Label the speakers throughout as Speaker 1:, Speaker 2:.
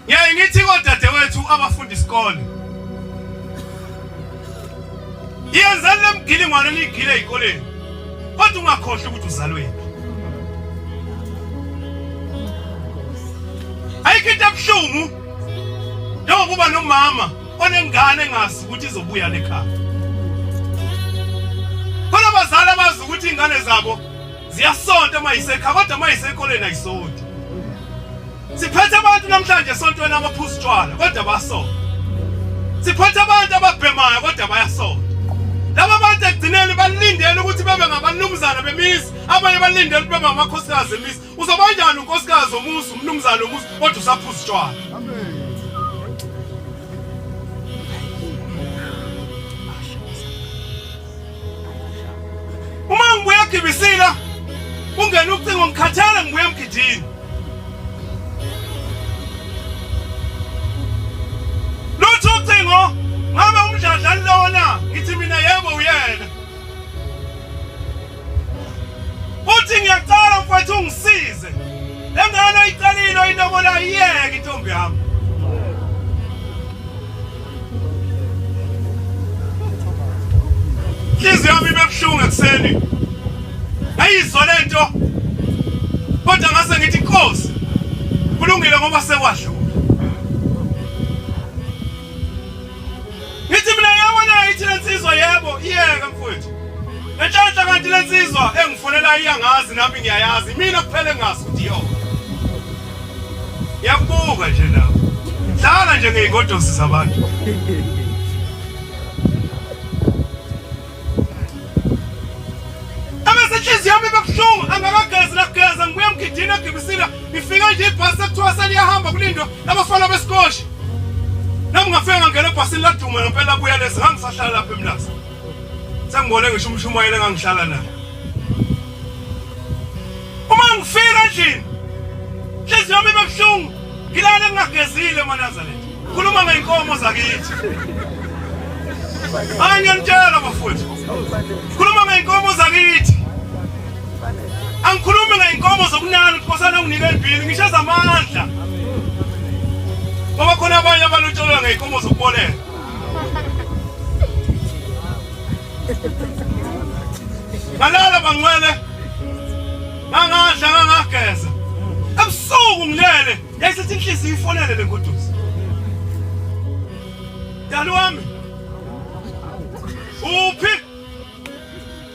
Speaker 1: Ngiyaye ngithi kodadewethu abafunda isikole yenzani le mgilingwane niyigile ey'koleni kodwa ungakhohlwa ukuthi uzalweni ayikho into ebuhlungu njengokuba nomama onengane engazi ukuthi izobuya lekhaya khona abazali abazi ukuthi iy'ngane zabo ziyasonta uma yisekha kodwa uma yisekoleni ayisonti siphethe abantu namhlanje esontweni abaphuza utshwala kodwa basonta siphethe abantu ababhemayo kodwa bayasonta laba bantu ekugcineni balindele ukuthi bebe ngabanumzana bemizi abanye balindele ukuthi bebe ngamakhosikazi emizi uzoba njani unkosikazi omuzi umnumzana omuzi kodwa usaphuza utshwala Uma ngibuya gibisila kungena ucingo ngikhathala ngibuya emgidini. Lutho ucingo ngabe umdladla lona ngithi mina yebo uyena. Uthi ngiyacela mfowethu ungisize. Lengane oyicelile oyinobola iyeke intombi yami. Inhliziyo yami ibebuhlungu ekuseni. Ayizwa lento. Kodwa ngase ngithi inkosi. Kulungile ngoba sekwasho. Ngithi mina yebo nayo ithi lensizwa yebo iyeke mfowethu. Nenhlanhla kanti lensizwa engifonela iyangazi nami ngiyayazi. Mina kuphela engazi ukuthi yona. Yakubuka nje nawe. Dlala nje ngeygodosi zabantu. Abesenhliziyo yami bebuhlungu angakagezi nageza ngibuye mgidini egibisile ngifike nje ibhasi ekuthiwa seliyahamba kulindwa abafana besikoshi. Nami ngafika ngangena ebhasini laduma ngempela buya lezi ngangisahlala lapha emlazi. Sengibone ngisho umshumayeli engangihlala naye. Uma ngifika endlini, inhliziyo yami ibe buhlungu. Ngilale ngingagezile eManazareth. Khuluma ngey'nkomo zakithi. Hayi ngiyanitshela bafowethu. Khuluma ngey'nkomo zakithi. Angikhulumi ngey'nkomo zokunana ukuthi kosana unginike elibhini, ngisho ezamandla. Ngoba khona abanye abalotsholwa ngey'nkomo zokuboleka. ngalala bangcwele ngangadla ngangageza ebusuku ngilele yayisithi inhliziyo ifonele le ngoduzi dali wami uphi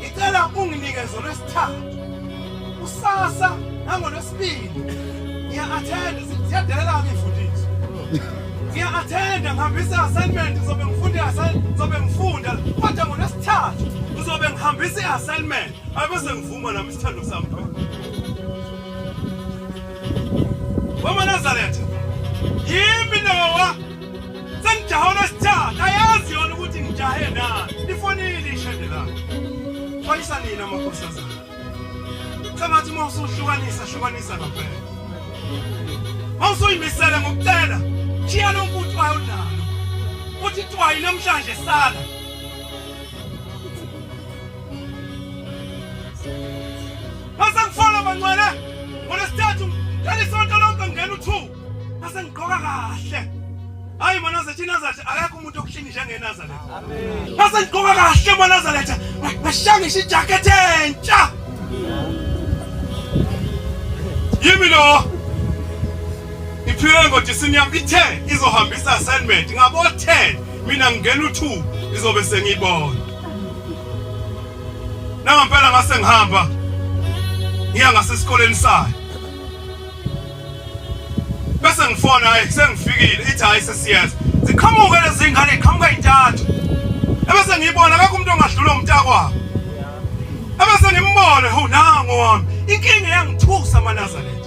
Speaker 1: ngicela unginike zona esithathu usasa nangolwesibili ngiya-athenda ziyadelela-ke imfundiso ngiya-athenda ngihambisa i-assignment ngizobe ngifunda ngizobe ngifunda kodwa ngolwesithathu ngizobe ngihambisa i-assignment abese ngivuma nami isithando sami wamanazaretha yimi nowa sengijaha olesithathu ayazi yona ukuthi ngijahe na lifonile ishende lami xwayisa nini amakhosazana sengathi uma usuhlukanisa hlukanisa ngampela uma usuyimisele ngokucela shiya lo mfuthu wayo nalo uthi twayi namhlanje sala Mas ang follow man wala. Wala statue. Kani sonto long kang ganu two. Mase ngigqoka kahle. Hayi manazathi inazathi akekho umuntu okushinga njengenazaretha. Amen. Mase ngigqoka kahle manazaretha. Ngashangisha ijacket entsha. Yimi lo. Iphile ngodisini yami ithe izohambisa assignment ngabo 10 mina ngingena u2 izobe sengiyibona. Nangampela ngase ngihamba ngiya ngasesikoleni sayo. bese ngifona hayi sengifikile ithi hayi sesiyenza ziqhamuke lezi ngane iqhamuka intathu ebese ngiyibona akekho umuntu ongadlula umntakwabo ebese ngimbone ho nango wami inkinga yangithusa amanazareth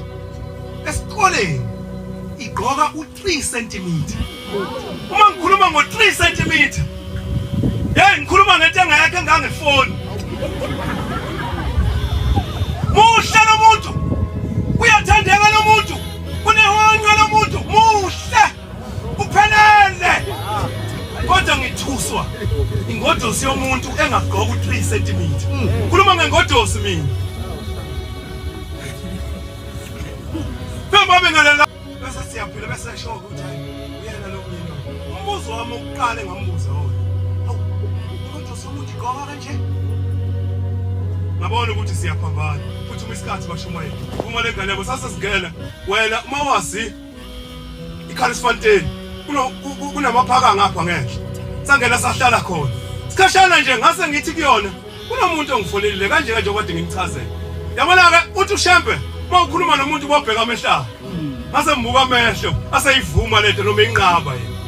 Speaker 1: esikoleni igqoka 3 cm uma ngikhuluma ngo 3 cm hey ngikhuluma ngento engayakhe ngangefoni muhle lo muntu uyathandeka lo muntu kunehonqo lo muntu muhle uphelele kodwa ngithuswa ingodosi yomuntu engagqoka u3 cm khuluma ngengodosi mina Come on, bese siyaphila bese esho ukuthi uyena lo myeni umbuzo wami ukuqala engambuza wona awu umuntu usukuthi gqoka kanje ngabona ukuthi siyaphambana futhi uma isikhathi bashumayela uma le ngane yabo sasesingena wena uma wazi ikhalisifanteni kunamaphaka ngapha ngenhla sangena sahlala khona sikhashana nje ngase ngithi kuyona Kunomuntu ongifolelile kanje kanje okade ngimchazela. Yabona ke uthi uShembe uma ukhuluma nomuntu ubobheka amehlayo. Ngase ngibuka amehlo aseyivuma lento noma inqaba yena.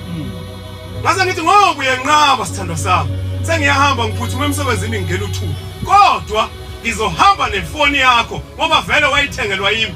Speaker 1: Ngase ngithi ngoba uyenqaba sithandwa sami. Sengiyahamba ngiphuthume emsebenzini ngingena uthuba. Kodwa ngizohamba nefoni yakho ngoba vele wayithengelwa yimi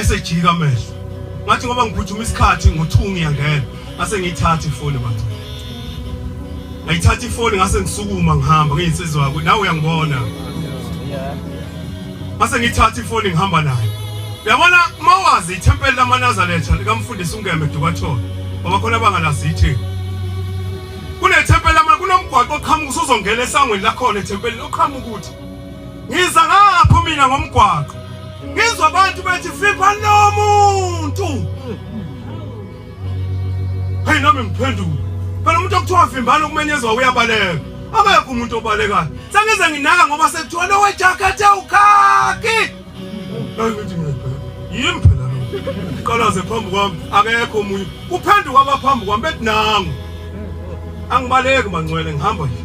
Speaker 1: esejika amehlo ngathi ngoba ngiphuthuma isikhathi ngo-two ngiyangena ngase ngiyithatha ifoni bathi ngayithatha ifoni ngase ngisukuma ngihamba ngiyinsizwa yakho nawe uyangibona ngase ngiyithatha ifoni ngihamba nayo uyabona uma wazi ithempeli lamanazaretha likamfundisi ungeme dukathola ngoba khona abangalazi ithini kunethempeli lama kunomgwaqo oqhamuka usuzongena esangweni lakhona ethempelini oqhamuka ukuthi Ngiza ngapho mina ngomgwaqo. Ngizwa abantu bethi fipha nomuntu. Hey nami ngiphendula. Phela umuntu okuthiwa vimbana ukumenyezwa uyabaleka. Akekho umuntu obalekayo. Sengize nginaka ngoba sekuthiwa lowe jacket awukhaki. Nangithi mina phela yimi phela lo. Uqalaze phambi kwami akekho omunye. Kuphenduka abaphambi kwami bethi nangu. Angibaleki mangcwele ngihamba nje.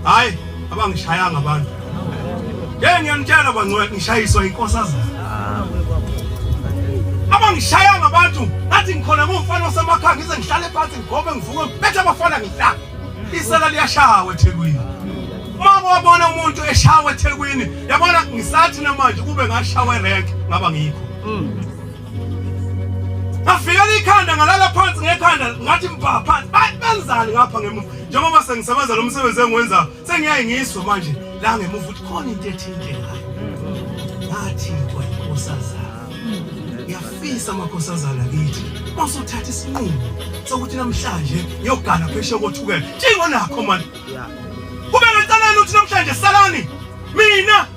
Speaker 1: Hayi abangishayanga abantu. Ngeke ngiyanitshela bangcwele ngishayiswa inkosazana. Abangishayanga abantu ngathi ngikhona ngumfana osemakhaya ngize ngihlale phansi ngigobe ngivuke bethe abafana ngihlala. Isela liyashawa eThekwini. Uma wabona umuntu eshawa eThekwini, yabona ngisathi namanje kube ngashawa erank ngaba ngikho. Mm. Ngafikela ikhanda ngalala phansi ngekhanda ngathi mbha phansi. Benzani ngapha ngemuva? Njengoba sengisebenza lo msebenzi engiwenza, sengiyaye ngizwe manje la ngemuva ukuthi khona into ethinte ngayo. Ngathi kwa inkosazana. Ngiyafisa amakhosazana kithi. Masuthatha isinqumo sokuthi namhlanje ngiyogana pheshe kothukela. Njengonakho manje Kube ngenselelo ukuthi namhlanje salani mina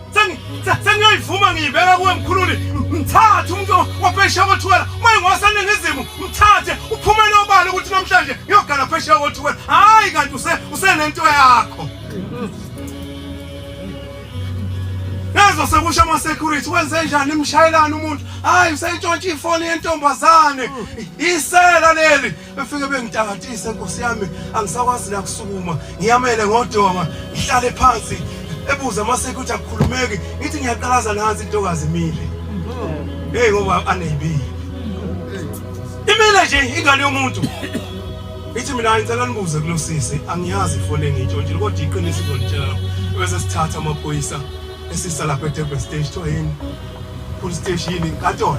Speaker 1: sengiyoyivuma ngiyibeka kuwe mkhululi mthathe umuntu waphesheya kothuwela uma ingowaseningizimu mthathe uphumele obala ukuthi namhlanje ngiyogala phesheya kothuwela hhayi kanti usenento yakho Nazo sekusha ama security wenze njani imshayelana umuntu hayi usentshontsha ifoni yentombazane isela leli befike bengitakatise nkosi yami angisakwazi nakusukuma ngiyamele ngodonga ngihlale phansi ebuza amaseke ukuthi akukhulumeki ngithi ngiyaqalaza nansi intokazi imile heyi ngoba aneyibile imile nje ingane yomuntu ithi mina ngicela nibuze kulo sisi angiyazi ifoneni ntshontshile kodwa iqiniso izolitshela bese sithatha amaphoyisa esisa lapha eDurban stage kuthiwa yini full stage yini inkatolo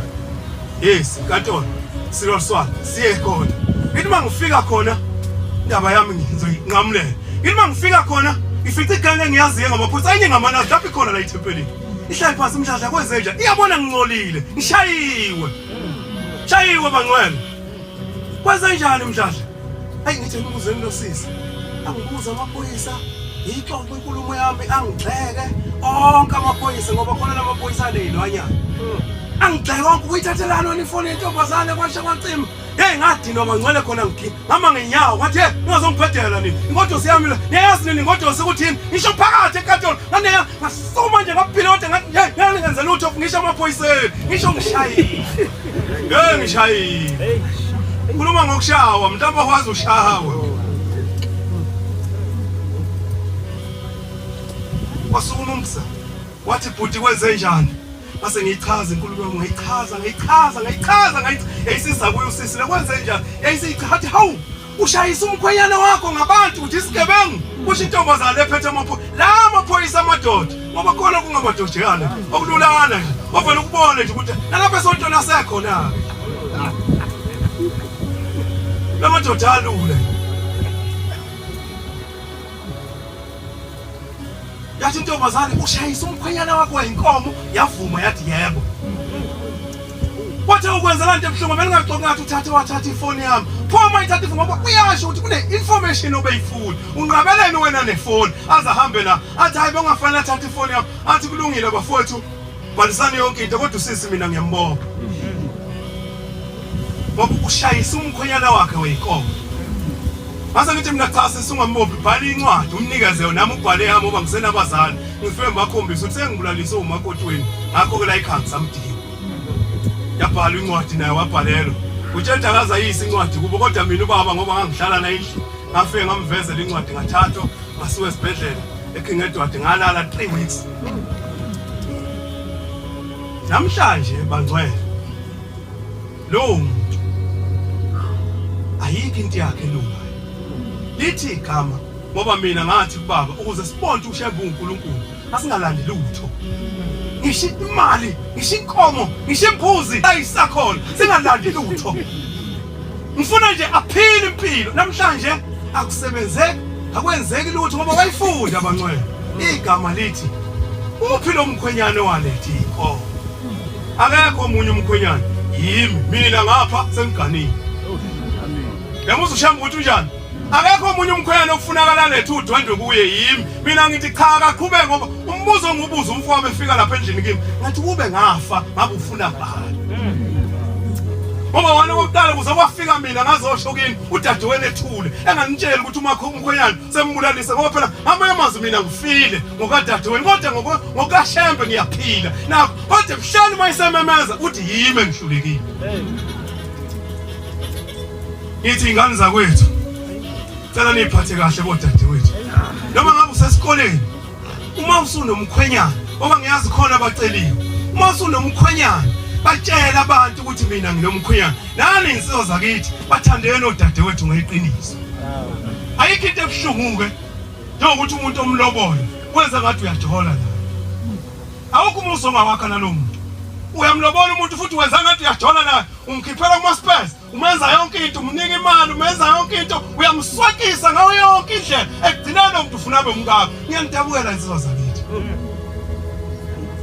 Speaker 1: yes inkatolo silo swala siye khona ngithi uma ngifika khona indaba yami ngizoyinqamulela ngithi uma ngifika khona ngifica igane engiyaziyo ngamaphoyisa enye ngamanazi lapho ikhona la ithempelini ihlale phansi umdladla kwenzenja iyabona ngincolile ngishayiwe shayiwe bangcwele Kwenzenjani mdladla? Ayi ngithe ngibuzeni lo sisi. Angibuza amaphoyisa ngiyixoxe inkulumo yami angigxeke onke amaphoyisa ngoba khona lamaphoyisa aleyilwanyana. Hmm. Angigxeke konke ukuyithathelana wena ifoni yentombazane kwasha kwacima. Hey ngadinwa mangcwele khona ngigi. Mama ngenyawo wathi hey ungazongibhedela nini. Ingodo siyami la. Niyazi nini ingodo sekuthini? Ngisho phakathi enkantolo. Nganeya ngasuma nje ngaphila kodwa ngathi hey ngeke ngenze lutho ngisho amaphoyiseni. Ngisho ngishayile. Ngeke ngishayile. Ukhuluma ngokushawa, mhlawumbe wazi ushawe. Wasukuma umsa. Wathi bhuti kwenze njani? Base ngiyichaza inkulumo yami, ngayichaza, ngayichaza, ngayichaza, ngayichaza. Yayisiza kuyo usisi, lekwenze njani? Yayisichaza, hawu! ushayisa umkhwenyana wakho ngabantu uthi isigebengu kusho intombazane ephethe amaphoyisa la amaphoyisa amadoda ngoba khona kungamadodeyana okululana nje ovele ukubone nje ukuthi nalapha esontweni asekhona-ke la madoda alule yathi intombazane ushayisa umkhwenyana wakho wayinkomo yavuma yathi yebo wathe ukwenza laa nto ebuhlungu belingaxoki ngathi uthathe wathatha ifoni yami phoma ithatha ifoni ngoba uyasho ukuthi kune-information obeyifuni unqabeleni wena nefoni aze ahambe la athi hayi bengafanele athathe ifoni yami athi kulungile bafowethu Bhalisani yonke into kodwa usisi mina ngiyambonga. Ngoba ukushayisa umkhonyana wakhe weyinkomo. Mase ngithi mina cha sesingambophi bhala incwadi umnikeze yona nami ubhale yami ngoba ngisenabazali ngifike ngibakhombisa ukuthi sengibulalise umakoti wenu ngakho ke la ikhanga samdinga. Yabhala incwadi naye wabhalelwa. Utshenta akazayisa incwadi kubo kodwa mina ubaba ngoba ngangihlala naye endlini ngafike ngamvezela incwadi ngathathwa ngasiwe esibhedlela eKingedward ngalala 3 weeks Namhlanje bangcwele lowo muntu ayikho into yakhe elungayo. Lithi igama ngoba mina ngathi kubaba ukuze sibonde ushembe uNkulunkulu asingalandi lutho. Ngisho imali, ngisho inkomo, ngisho imbuzi ayisakhona singalandi lutho. ngifuna nje aphile impilo namhlanje akusebenzeki akwenzeki lutho ngoba wayifunda abancwele igama lithi uphi lo mkhwenyane walethi inkomo akekho omunye umkhwenyane yimi mina ngapha sengiganile yamuzwa ushamba ukuthi unjani akekho omunye umkhwenyana okufunakala lethu udwendwe kuye yimi mina ngithi cha akaqhubeke ngoba umbuzo ongubuza umfowabo efika lapha endlini kimi ngathi kube ngafa ngabe ufuna ngani ngoba wona kokuqala kuze kwafika mina ngazosho kini udadewenu ethule enganitsheli ukuthi umakho umkhwenyana sembulalise ngoba phela amanye amazwi mina ngifile ngokadadewenu kodwa ngokashembe ngiyaphila nakho kodwa kuhlani uma isememeza uthi yimi engihlulekile Ngithi ingane zakwethu cela niphathe kahle bodadewethu. Noma ngabe usesikoleni uma usunomkhwenyana ngoba ngiyazi khona abaceliwe. Uma usunomkhwenyana batshela abantu ukuthi mina nginomkhwenyana. Nani insizwa zakithi bathandeni odadewethu ngeqiniso. Ayikho into ebuhlungu ke njengokuthi umuntu omlobola wenza ngathi uyajola la. Awukho umuso ngawakha nalomuntu. Uyamlobola umuntu futhi wenza ngathi uyajola naye umkhiphela kuma space umenza yonke into umnika imali umenza yonke into uyamswakisa ngayo yonke indlela ekugcineni umuntu ufuna abe umkakho ngiyangidabukela insizwa zakithi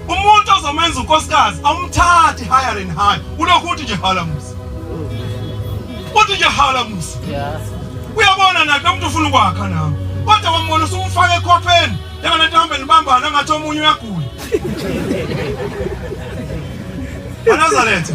Speaker 1: umuntu ozomenza unkosikazi awumthathi higher and higher ulokhu uthi nje hala musa uthi nje hala musa uyabona nakhe umuntu ufuna ukwakha nami kodwa wambona usumfaka ekhopheni njengale nto hambe nibambana ngathi omunye uyagula anazaletha